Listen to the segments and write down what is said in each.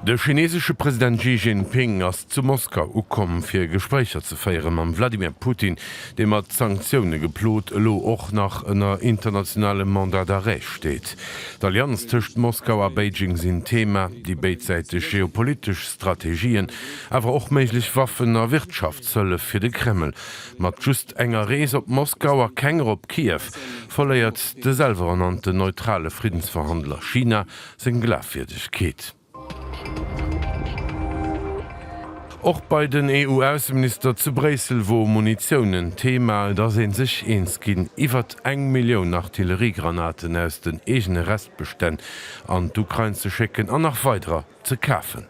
De chinesesche President Xi Jinping ass zu Moskau ukomm, fir Gespréicher ze féiere mam Wladimir Putin, dee mat Sanktioune geplot elo och nach ënner internationalem Mandat d'arrêt steet. D'Allianz tëscht Moskau a Beijing sinn Theema, déi béidsäiteg geopolitesch Strategien, awer och méiglech Waffen a Wirtschaftshëllef fir de Kreml Mat just enger Rees op Moskau a kenger op Kiew verléiert de selweernannten neutrale Friddensverhandler China seng Glafwierdegkeet. Och bei den EU-Ausseminister zu Bréissel wor Munitioun en Thema. Et ass ee sech eens ginn, iwwert eng Millioun Artilleriegranaten aus den eegene Restbestänn an d'Ukrain ze schécken an nach weiderer ze kafen.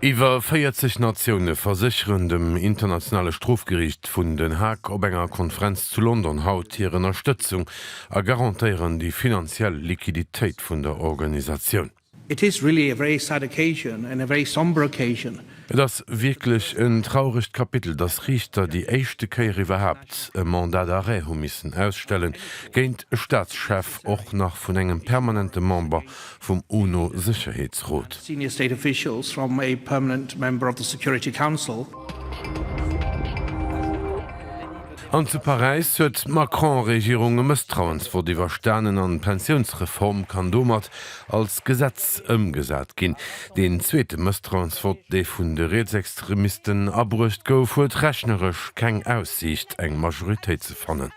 Iwwer 40 Natioune versécheren dem Internationale Strofgeriicht vun Den Haag op enger Konferenz zu London haut hir Ënnerstëtzung a garantéieren déi finanziell Liquiditéit vun der Organisatioun. It is really a very sad occasion and a very sombre occasion. Et ass wierklech en trauregt Kapitel, datt Riichter déi éischte Kéier iwwerhaapt e Mandat d'arrêt hu missen ausstellen, géint e Staatschef, och nach vun engem permanente Member vum UNO-Sécherheetsrot. An zu Paräis huet d'Macron-Regierung e Mësstrauensvott iwwerstanen an d'Pensiounsreform kann domat als Gesetz ëmgesat ginn. Deen zweete Mësstrauensvott, dee vun de Rietsextremisten abruecht gouf, huet rechneresch keng Aussiicht, eng Majoritéit ze fannen.